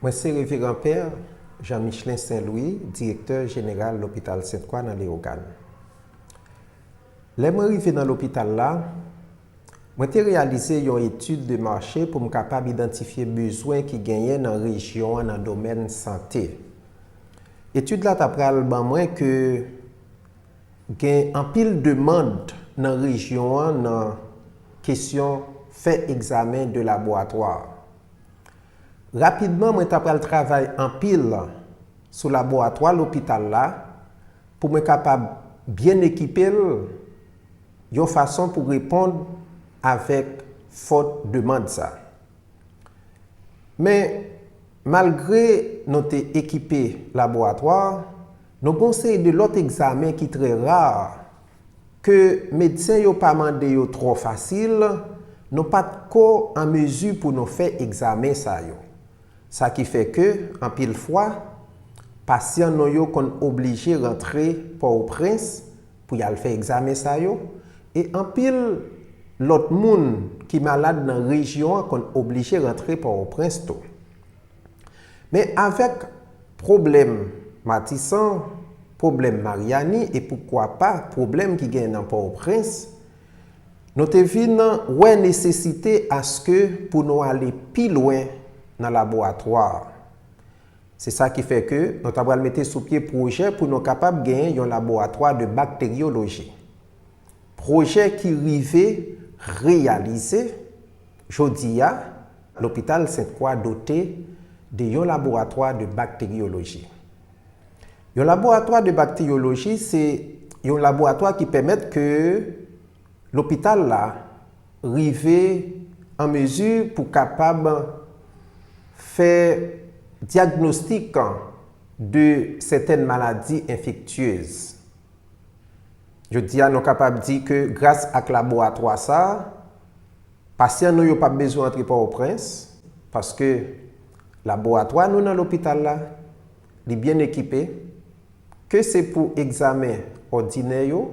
Mwen se Reveran Pè Jan Michlen Sen Lwi, Direktè Jeneral Lopital Sent Kwa nan Leyogàn. Lè mwen rive nan lopital la, mwen te reyalize yon etid de mache pou m kapab idantifye bezwen ki genyen nan rejyon an nan domèn sante. Etid la ta pral ban mwen ke gen anpil demand nan rejyon an nan kesyon fè egzamen de laboratwa. Rapidman mwen ta pral travay anpil sou laboratwa lopital la pou mwen kapab byen ekipe l yon fason pou reponn avèk fòt demand sa. Men, malgre nou te ekipe laboratwa, nou gen yon seri de lòt egzamen ki trè rar, ke medsen yo pa mande yo twò fasil, nou pa t ko an mezi pou nou fè egzamen sa yo. Sa ki fè ke, anpil fwa, pasyan nou yo konn oblije rantre Pòoprens pou y al fè egzamen sa yo, e anpil lòt moun ki malad nan rejyon an konn oblije rantre Pòoprens tou. Men avèk pwoblèm Matisan, pwoblèm Maryani e poukwa pa pwoblèm ki genyen nan Pòtoprens, nou te vin wè nesesite aske pou nou ale pi lwen nan laboratwa a. Se sa ki fè ke nou ta pral mete sou pye pwojè pou nou kapab genyen yon laboratwa de bakteryoloji. Pwojè ki rive reyalize, Jodi a, Lopital Sent Kwa dote de yon laboratwa de bakteryoloji. Yon laboratwa de bakteryoloji se yon laboratwa ki pèmèt ke lopital la rive an mezi pou kapab fè dyagnostik de sètèn maladi enfektyez. Jodi a nou kapab di ke gras ak laboratwa sa a, pasyan nou yo p ap bezwen antre Pòtoprens, paske laboratwa nou nan lopital la, li byen ekipe, ke se pou egzamen òdinè yo,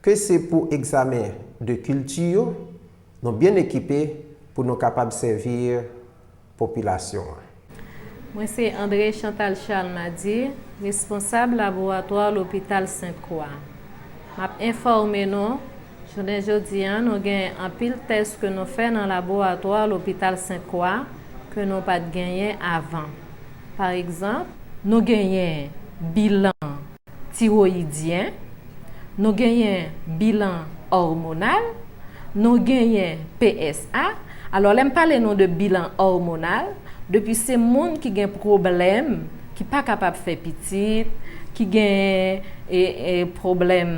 ke se pou egzamen de kilti yo, nou byen ekipe pou nou kapab sèvi. popilasyon an. Mwen se André Chantal Charles Madier, responsab laboratwa lopital Sent Kwa. M ap enfòme nou, jounen jodi an nou genyen anpil tès ke nou fè nan laboratwa lopital Sent Kwa ke nou pa t genyen avan. Paregzanp. Nou genyen bilan tiroyidyen, nou genyen bilan òmonal, nou genyen PSA, alò lè m pale nou de bilan òmonal, depi se moun ki gen pwoblèm, ki pa kapab fè pitit, ki gen pwoblèm,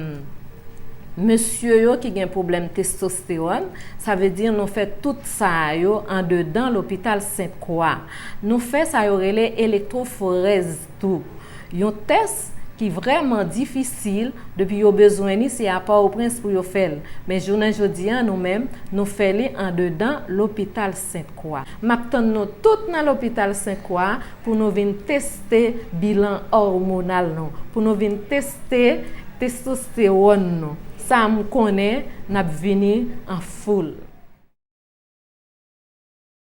mesye yo ki gen pwoblèm testostewòn, sa vle di nou fè tout sa yo andedan lopital Sent Kwa. Nou fè sa yo rele elektwoforèz. tou. Yon tès ki vrèman difisil depi yo bezwen li se a Pòtoprens pou yo fè l, men jounen jodi a nou menm nou fè li andedan lopital Sent Kwa. M ap tann nou tout nan lopital Sent Kwa pou nou vin teste bilan òmonal nou, pou nou vin teste testostewòn nou, sa m konnen n ap vini an foul.